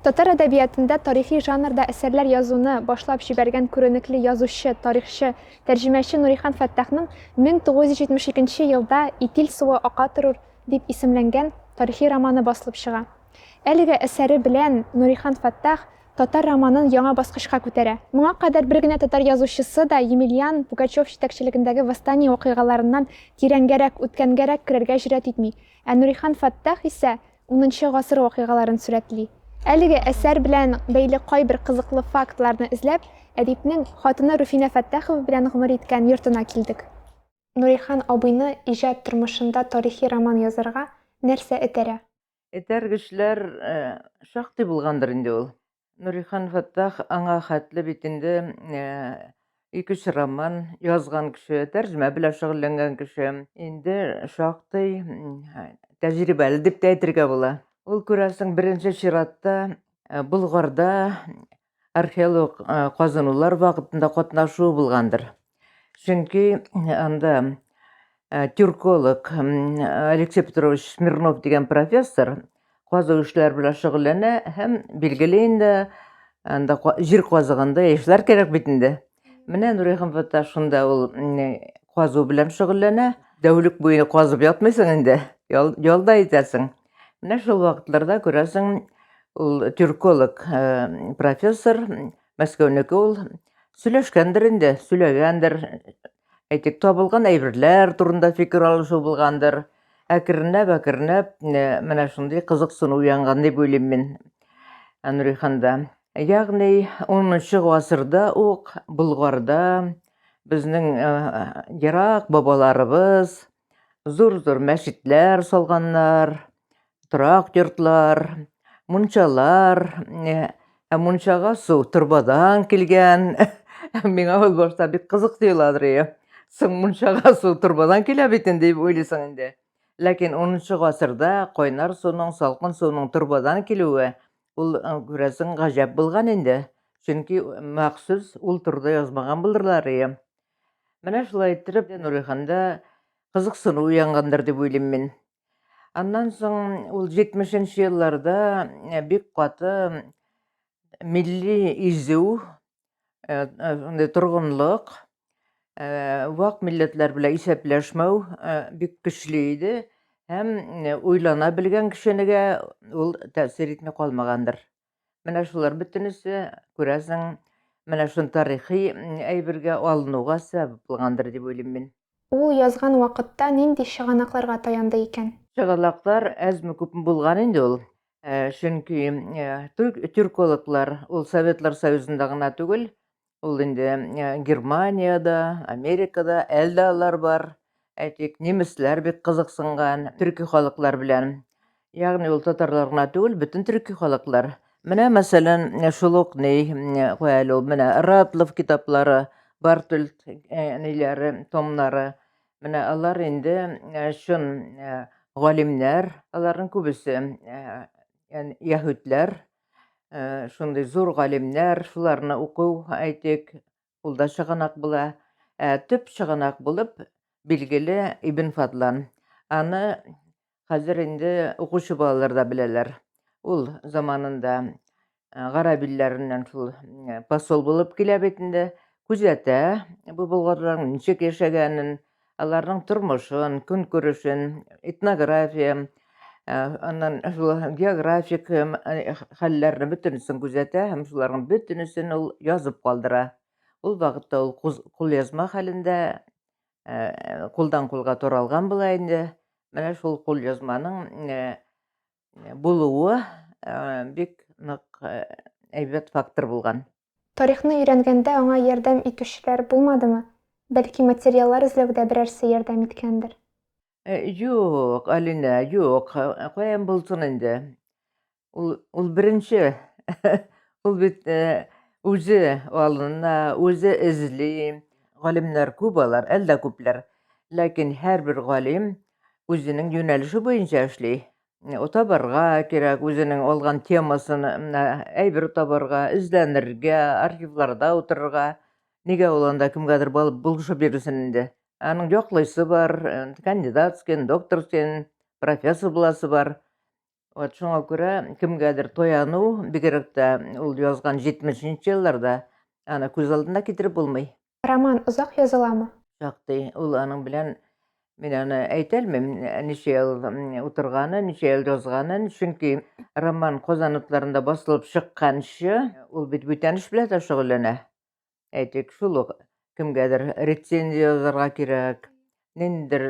Татар әдәбиятында тарихи жанрда әсәрләр язуны башлап җибәргән күренекле язучы, тарихчы, тәрҗемәче Нурихан Фәттахның 1972 елда Итил суы ака торур дип исемләнгән тарихи романы басылып чыга. Әлеге әсәре белән Нурихан Фәттах татар романын яңа баскычка күтәрә. Моңа кадәр бер генә татар язучысы да Емельян Пугачев җитәкчелегендәге восстание вакыйгаларыннан тирәнгәрәк, үткәнгәрәк керергә җөрьәт итми, ә Нурихан Фәттах исә Унынчы гасыр вакыйгаларын сурәтли. Әлеге әсәр белән бәйле кайбер кызыклы фактларны эзләп, әдипнең хатыны Руфинә Фәттахова белән гомер иткән йортына килдек. Нурихан абыйны иҗат тормышында тарихи роман язарга нәрсә этәрә? Этәргечләр шактый булгандыр инде ул. Нурихан Фәттах аңа хәтле бит инде ике-өч роман язган кеше, тәрҗемә белән шөгыльләнгән кеше. Инде шактый тәҗрибәле дип тә әйтергә була. Ул, күрәсең, беренче чиратта Болгарда археолог казынулар вакытында катнашуы булгандыр. Чөнки анда э, тюрколог Алексей Петрович Смирнов дигән профессор казу эшләре белән шөгыльләнә һәм билгеле инде анда җир казыганда яшьләр кирәк бит инде. Менә Нурия Хәмфәтта шунда ул казу белән шөгыльләнә. Дәүлек буена казып ятмыйсың инде, ялда итәсең. Менә шул вакытларда күрәсең, ул тюрколог э, профессор Мәскәүнеке ул сөйләшкәндер инде, сөйләгәндер. Әйтик, табылган әйберләр турында фикер алышу булгандыр. Әкренләп, әкренләп э, менә шундый кызыксыну уянган дип уйлыйм мин э, Нуриханда. Ягъни 10 гасырда ук Болгарда безнең э, ерак бабаларыбыз, Зур-зур мәчетләр салганнар, торак йортлар, мунчалар, ә мунчага су торбадан килгән. Миңа ул башта бик кызык тоеладыр ие. Соң мунчага су торбадан килә бит инде дип уйлыйсың инде. Ләкин 10 гасырда кайнар суның, салкын суның торбадан килүе ул күрәсең гаҗәп булган инде. Чөнки махсус ул турыда язмаган булырлар ие. Менә шулай иттереп Нуриханда кызыксыну уянгандыр дип уйлыйм мин. Аннан соң ул 70-нче елларда э, бик каты милли изү, э, э, шундый торгынлык, вак милләтләр белән исәпләшмәү бик көчле иде һәм уйлана белгән кешенегә ул тәэсир итми калмагандыр. Менә шулар бөтенесе, күрәсең, менә шуны тарихи әйбергә алынуга сәбәп булгандыр дип уйлыйм мин. Ул язган вакытта нинди чыганакларга таянды икән? Чыганаклар әзме-күпме булган инде ул. Чөнки тюркологлар ул Советлар Союзында гына түгел, Ул инде э, Германиядә, Америкада әлдә алар бар. Әйтик, немецләр бик кызыксынган төрки халыклар белән. Ягъни ул татарлар гына түгел, бөтен төрки халыклар. Менә мәсәлән, шул ук ни, куәл ул менә Ратлов китаплары, Бартульт э, ниләре, томнары. Менә алар инде э, чын э, галимнәр, аларның күбесе яһүдләр, Э, шундый зур галимнәр, шуларны уку, әйтик, ул да чыганак була. Ә төп чыганак булып билгеле Ибн Фадлан. Аны хәзер инде укучы балалар да беләләр. Ул заманында э, гарәп илләреннән шул э, посол булып килә бит инде, күзәтә бу болгарларның ничек яшәгәнен, Аларның тормышын, көнкүрешен, этнография, аннан шул географик хәлләрне бөтенесен күзәтә һәм шуларның бөтенесен ул язып калдыра. Ул вакытта ул кулъязма хәлендә кулдан-кулга таралган була инде. Менә шул кулъязманың булуы бик нык әйбәт фактор булган. Тарихны өйрәнгәндә аңа ярдәм итүчеләр булмадымы? Бәлки материаллар эзләүдә берәрсе ярдәм иткәндер? Юк, Алинә, юк. Каян булсын инде. Ул, ул беренче. Ул бит үзе алына, үзе эзли. Галимнәр күп алар, әлдә күпләр. Ләкин һәрбер галим үзенең юнәлеше буенча эшли. табарга кирәк, үзенең алган темасын әйбер табарга, эзләнергә, архивларда утырырга. Нигә ул анда кемгәдер балып булышып бирүсен инде. Аның яклыйсы бар, э, кандидатскин, докторскин, профессор буласы бар. Вот шуңа күрә кемгәдер тояну, бигрәк тә ул язган 70 нче елларда аны күз алдына китереп булмый. Роман озак языламы? Шактый. Ул аның белән мин аны әйтәлмим, ничә ел утырганын, ничә ел язганын, чөнки роман Казан утларында басылып чыкканчы, ул бит бүтән эш белән дә шөгыльләнә. Әйтик, шул ук кемгәдер рецензия язарга кирәк, ниндидер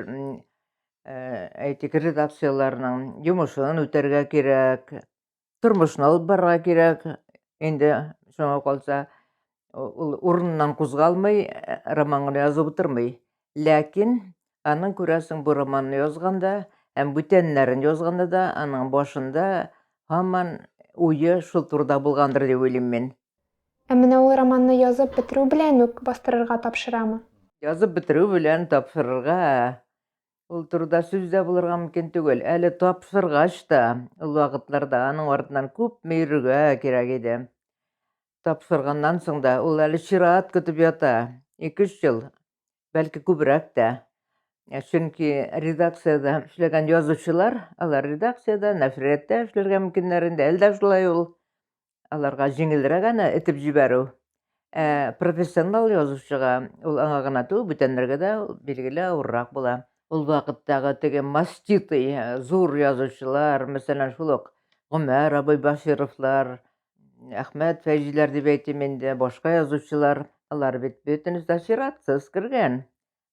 әйтик, редакцияләрнең йомышын үтәргә кирәк. тормышны алып барырга кирәк инде шуңа калса ул урыныннан кузгалмый э, романын язып утырмый ләкин аның күрәсең бу романны язганда һәм бүтәннәрен язганда да аның башында һаман уе шул турыда булгандыр дип уйлыйм мин ә менә ул романны язып бетерү белән үк бастырырга тапшырамы язып бетерү белән тапшырырга Ул турыда сүз дә булырга мөмкин түгел. Әле тапшыргач та, ул вакытларда аның артыннан күпме йөрергә кирәк иде. Тапшырганнан соң да ул әле чират көтеп ята. Ике-өч ел, бәлки күбрәк тә. Ә чөнки редакциядә эшләгән язучылар, алар редакциядә, нәшриятта эшләргә мөмкиннәр инде. Әле дә шулай ул. аларга җиңелрәк аны этеп җибәрү. Ә профессионал язучыга ул аңа гына түгел, бүтәннәргә дә билгеле авыррак була. Ул вакыттагы теге маститый э, зур язучылар, мәсәлән, шул ук Гомәр абый Башировлар, Әхмәт Фәйзиләр дип әйтим инде, башка язучылар, алар бит бөтенесе дә сиратсыз кергән.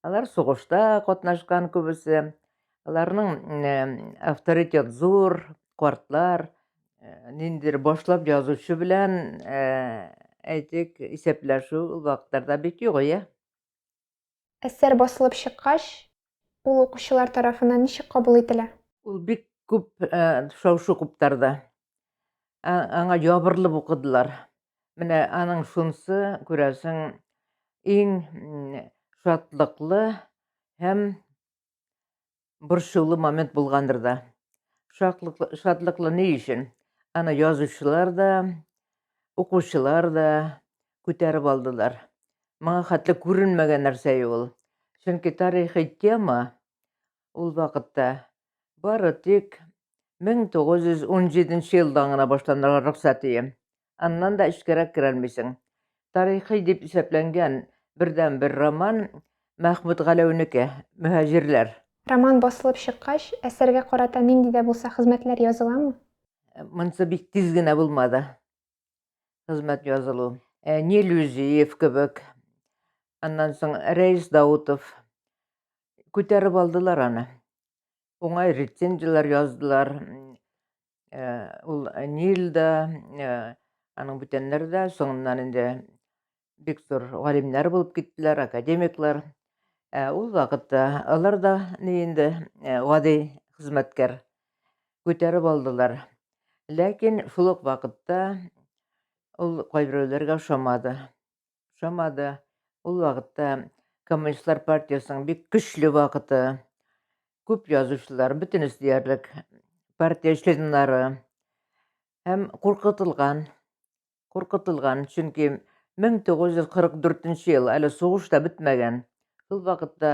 Алар сугышта катнашкан күбесе. Аларның авторитет зур, картлар. Ниндидер башлап язучы белән, әйтик, исәпләшү ул вакытларда бик юк, иә. Әсәр басылып чыккач, ул укучылар тарафыннан ничек кабул ителә? Ул бик күп шау-шу куптарды. аңа ябырылып укыдылар. Менә аның шунысы, күрәсең, иң шатлыклы һәм борчулы момент булгандыр да. Шатлыклы, шатлыклы ни өчен? Аны язучылар да, укучылар да күтәреп алдылар. Моңа хәтле күренмәгән нәрсә ул. Чөнки тарихи тема ул вакытта бары тик 1917 елдан гына башланырга рөхсәт ие. Аннан да эчкәрәк керә алмыйсың. Тарихи дип исәпләнгән бердәнбер роман Мәхмүт Галәүнеке, Мөһаҗирләр. Роман басылып чыккач, әсәргә карата нинди дә булса хезмәтләр языламы? Монысы бик тиз генә булмады, хезмәт язылу. Нелюзиев кебек, аннан соң Рәис Даутов күтәреп алдылар аны. уңай рецензияләр яздылар. Ул Нил да, аның бүтәннәре дә соңыннан инде бик зур галимнәр булып киттеләр, академиклар. Ул вакытта алар да ни инде гади хезмәткәр күтәреп алдылар. Ләкин шул ук вакытта ул кайберәүләргә ошамады. ошамады. Ул вакытта Коммунистлар партиясенең бик көчле вакыты. Күп язучылар, бөтенесе диярлек, партия членнары һәм куркытылган. Куркытылган, чөнки 1944 ел, әле сугыш та бетмәгән. Шул вакытта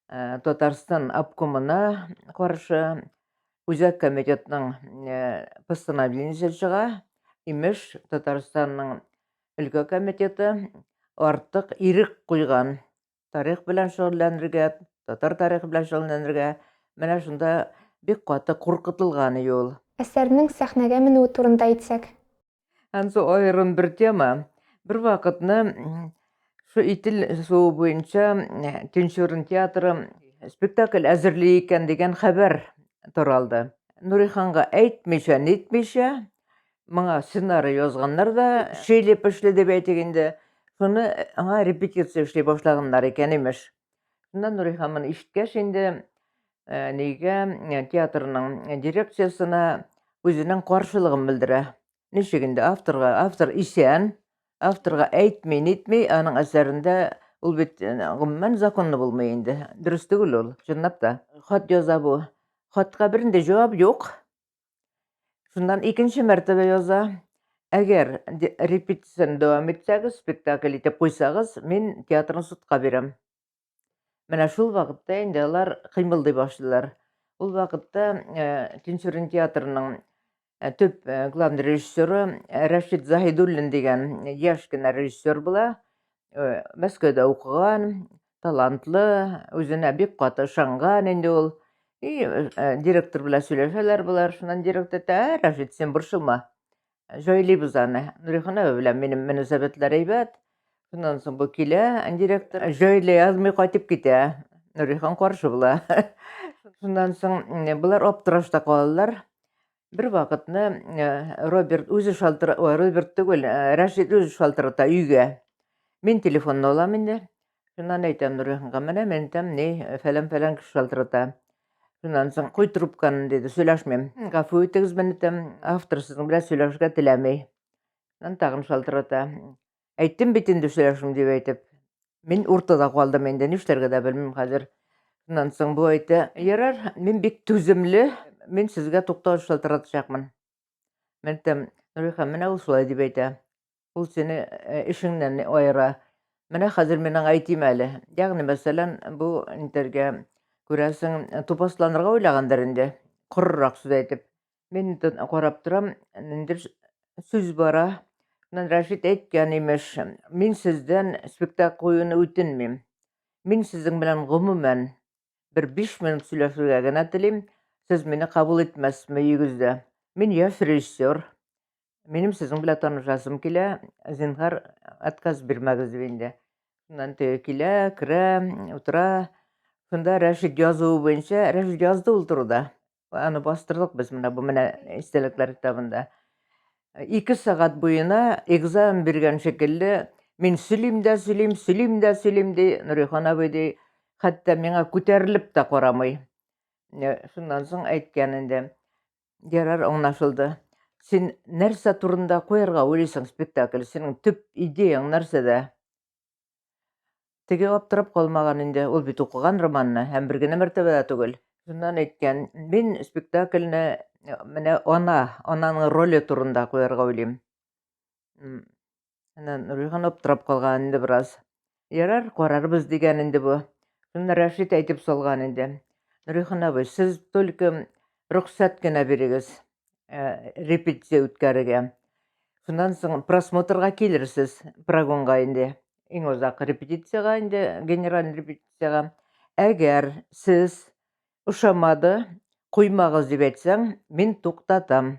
э, Татарстан обкомына каршы Үзәк комитетның э, постановлениесе чыга. Имеш, Татарстанның өлкә комитеты артык ирек куйган. Тарих белән шөгыльләнергә, татар тарихы белән шөгыльләнергә менә шунда бик каты куркытылган иде ул. Әсәрнең сәхнәгә менүе турында әйтсәк. Ансы аерым бер тема. Бер вакытны шу Итил суы буенча Төнчурын театры спектакль әзерли икән дигән хәбәр таралды. Нуриханга әйтмичә-нитмичә, Моңа сценарий язганнар да, шилеп эшле дип әйтик инде. Шуны аңа репетиция эшли башлаганнар икән, имеш. Шуннан Нурихан моны ишеткәч инде, э, нигә э, театрның дирекциясенә үзенең каршылыгын белдерә. Ничек инде авторга, автор исән, авторга әйтми, нитми, аның әсәрендә ул бит э, гомумән законлы булмый инде. Дөрес түгел ул, чынлап та. Хат яза бу. Хатка бернинди җавап юк. Шуннан икенче мәртәбә яза. Әгәр репетицияне дәвам итсәгез, спектакль итеп куйсагыз, мин театрны судка бирәм. Менә шул вакытта инде алар кыймылдый башлыйлар. Ул вакытта э, Тинчурин театрының э, төп э, главный режиссеры Рәшид Заһидуллин дигән яшь кенә режиссер була. Мәскәүдә укыган, талантлы, үзенә бик каты ышанган инде ул. И, э, директор белән сөйләшәләр болар, шуннан директор әйтә, ә, Рәшит, син борчылма, җайлыйбыз аны. Нуриханова белән минем мөнәсәбәтләр әйбәт. Шуннан соң бу килә, директор җайлый язмый кайтып китә. Нурихан каршы була. Шуннан соң болар аптырашта калалар. Бер вакытны э, Роберт үзе шалтыра, ой, Роберт түгел, э, Рәшит үзе шалтырата өйгә. Мин телефонны алам инде. Шуннан әйтәм Нуриханга, менә мин әйтәм, ни, э, фәлән-фәлән кеше шалтырата. Шуннан соң куй трубканы диде, сөйләшмим. Гафу итегез, мин әйтәм, автор сезнең белән сөйләшергә теләми. Шуннан тагын шалтырата. Әйттем бит инде сөйләшим дип әйтеп. Мин уртада калдым инде, нишләргә дә белмим хәзер. Шуннан соң бу әйтә, ярар, мин бик түземле, мин сезгә туктау шалтыратачакмын. Мин әйтәм, Нурихан, менә ул шулай дип әйтә. Ул сине э, эшеңнән аера. Менә хәзер мин аңа әйтим әле. Ягъни, мәсәлән, бу интергә күрәсең, тупасланырга уйлагандыр инде, корырак сүз әйтеп. Мин карап торам, ниндер сүз бара. Мен Рәшит әйткән имеш, мин сездән спектакль куюны үтенмим. Мин сезнең белән гомумән бер биш минут сөйләшергә генә телим. Сез мине кабул итмәссезме өегездә? Мин яшь режиссер. Минем сезнең белән танышасым килә. Зинһар, отказ бирмәгез дип инде. Шуннан теге килә, керә, утыра. Шунда Рәшит язуы буенча, Рәшит язды ул турыда. Аны бастырдык без менә бу менә истәлекләр китабында. Ике сәгать буена экзамен биргән шикелле, мин сөйлим дә сөйлим, сөйлим дә сөйлим, ди Нурихан абый, ди, хәтта миңа күтәрелеп тә карамый. Шуннан соң әйткән инде, ярар аңлашылды. Син нәрсә турында куярга уйлыйсың спектакль? Синең төп идеяң нәрсәдә? Теге аптырап калмаган инде, ул бит укыган романны һәм бер генә мәртәбә дә түгел. Шуннан әйткән, мин спектакльне менә ана, ананың роле турында куярга уйлыйм. Әнә Нурҗиһан аптырап калган инде бераз. Ярар, карарбыз дигән инде бу. Шуны Рәшит әйтеп салган инде. Нурҗиһан абый, сез только Рөхсәт кенә бирегез, э, репетиция үткәрергә. Шуннан соң просмотрга килерсез, прогонга инде. Иң озак репетициягә инде, генераль репетициягә. Әгәр сез ошамады, куймагыз дип әйтсәң, мин туктатам.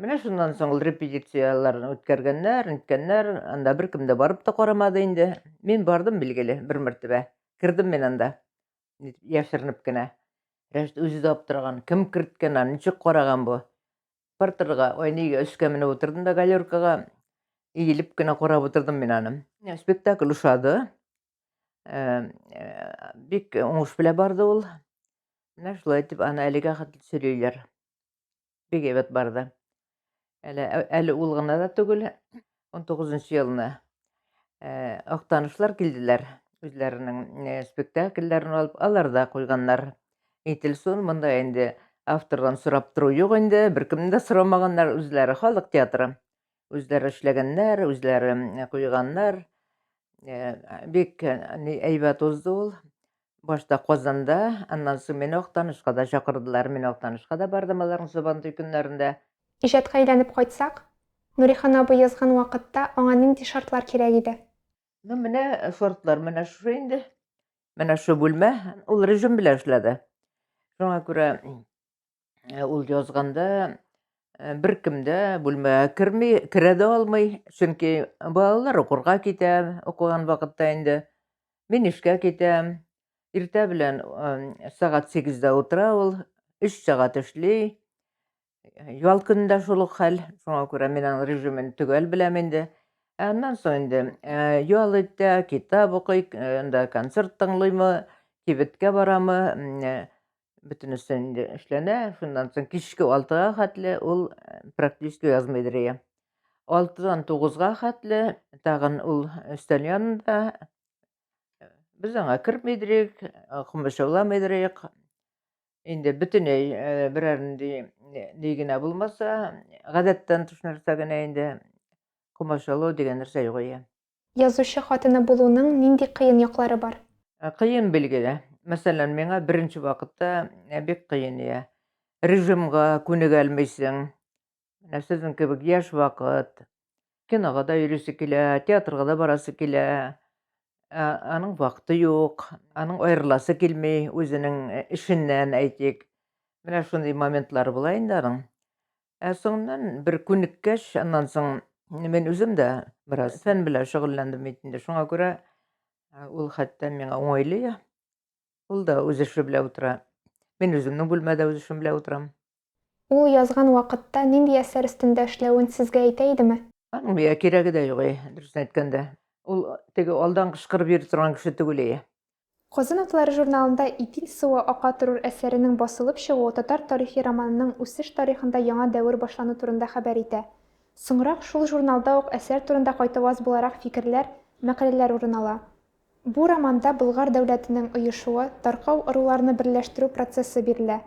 Менә шуннан соң ул репетицияләрен үткәргәннәр, ниткәннәр, анда беркем дә барып та карамады инде. Мин бардым, билгеле, бер мәртәбә. Кердем мин анда, яшеренеп кенә. Рәшит үзе дә аптыраган, кем керткән аны, ничек караган бу? Партерга, ой, нигә өскә менеп утырдым да галеркага, иелеп кенә карап утырдым мин аны. Спектакль ошады. Э, э, бик уңыш белән барды ул. Менә шулай итеп аны әлегә хәтле сөйлиләр. бик әйбәт барды. Әле, әле ул гына да түгел, 19 елны э, актанышлар килделәр, үзләренең э, спектакльләрен алып, алар да куйганнар. Ителсон монда инде автордан сорап тору юк инде, беркемне дә сорамаганнар үзләре, халык театры. Үзләре эшләгәннәр, үзләре куйганнар. Э, бик э, әйбәт узды ул. Башта Казанда, аннан соң мине Актанышка да чакырдылар. Мин Актанышка да бардым аларның Сабантуй көннәрендә. Иҗатка әйләнеп кайтсак, Нурихан абый язган вакытта аңа нинди шартлар кирәк иде? Ну, менә э, шартлар менә шушы инде. Менә шу бүлмә, ул режим белән эшләде. Шуңа күрә Э, ул язганда э, бер кем дә бүлмәгә керми, керә дә алмый, чөнки балалар укырга китә, укыган вакытта инде. Мин эшкә китәм. Иртә белән э, сәгать сигездә утыра ул, өч сәгать эшли. Ял көнендә шул ук хәл, шуңа күрә мин аның режимын төгәл беләм инде. Ә аннан соң инде ял итә, китап укый, анда концерт тыңлыймы, кибеткә барамы, бөтенесе инде эшләнә. Шуннан соң кичке 6-га хәтле ул э, практически язма идерия. 6-дан 9-га хәтле тагын ул өстән янында э, без аңа керми идерик, комачаулама э, идерик. Инде бөтенләй берәр ни генә булмаса, гадәттән тыш нәрсә генә инде комачаулау дигән нәрсә юк ия. Язучы хатыны булуның нинди кыен яклары бар? Ә, кыен билгеле. Мәсәлән, миңа беренче вакытта ә, бик кыен ия. Режимга күнегәлмисең. Менә сезнең кебек яшь вакыт. Кинога да йөрисе килә, театрга да барасы килә. Ә, аның вакыты юк, аның аерыласы килми үзенең э, эшеннән, әйтик. Менә шундый моментлары була инде аның. Ә соңыннан бер күнеккәч, аннан соң мин үзем дә бераз фән белән шөгыльләндем бит инде. Шуңа күрә ул хәтта миңа уңайлы. Ул да үз эше белән утыра. Мин үземнең бүлмәдә үз эшем белән утырам. Ул язган вакытта нинди әсәр өстендә эшләвен сезгә әйтә идеме? Аның миңа кирәге дә юк, дөресен әйткәндә. Ул теге алдан кычкырып йөри торган кеше түгел. Казан атлары журналында Итил суы ака торыр әсәренең басылып чыгуы татар тарихи романының үсеш тарихында яңа дәвер башлану турында хәбәр итә. Соңрак шул журналда ук әсәр турында кайтаваз буларак фикерләр, мәкаләләр урын ала. Бу романда Болгар дәүләтенең оешуы, таркау ыруларны берләштерү процессы бирелә.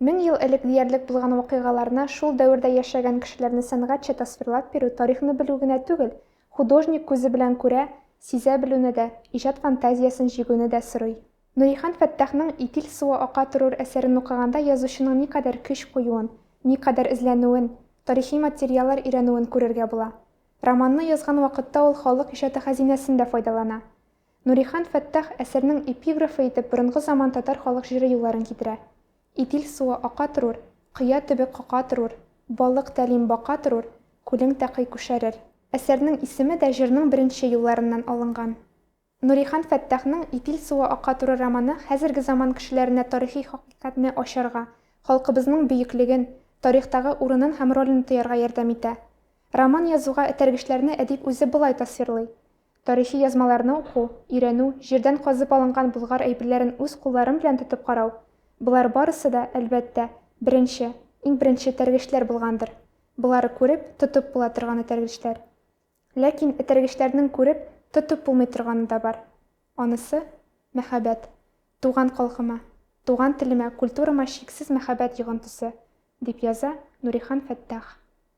Мең ел элек диярлек булган вакыйгаларны, шул дәвердә яшәгән кешеләрне сәнгатьчә тасвирлап бирү тарихны белү генә түгел, художник күзе белән күрә, сизә белүне дә, иҗат фантазиясен җигүне дә сорый. Нурихан Фәттахның Итил суы ака торур әсәрен укыганда язучының никадәр көч куюын, никадәр эзләнүен, тарихи материаллар өйрәнүен күрергә була. Романны язган вакытта ул халык иҗаты хәзинәсен дә файдалана. Нурихан Фәттах әсәрнең эпиграфы итеп борынгы заман татар халык җыры юлларын китерә. Итил суы ака торур, Кыя төбе кака торур, Балык тәлим бака торур, Күлең тәкый күшәрер. Әсәрнең исеме дә җырның беренче юлларыннан алынган. Нурихан Фәттахның Итил суы ака турыр романы хәзерге заман кешеләренә тарихи хакыйкатьне ачарга, халкыбызның бөеклеген, тарихтагы урынын һәм ролен тоярга ярдәм итә. Роман язуга этәргечләрне әдип үзе болай тасвирлый, Тарихи язмаларны уку, өйрәнү, җирдән казып алынган Болгар әйберләрен үз кулларым белән тотып карау, болар барысы да, әлбәттә, беренче, иң беренче этәргечләр булгандыр. Болары күреп, тотып була торган этәргечләр. Ләкин этәргечләрнең күреп, тотып булмый торганы да бар. Анысы, мәхәббәт. Туган халкыма, туган телемә, культурама чиксез мәхәббәт йогынтысы, дип яза Нурихан Фәттах.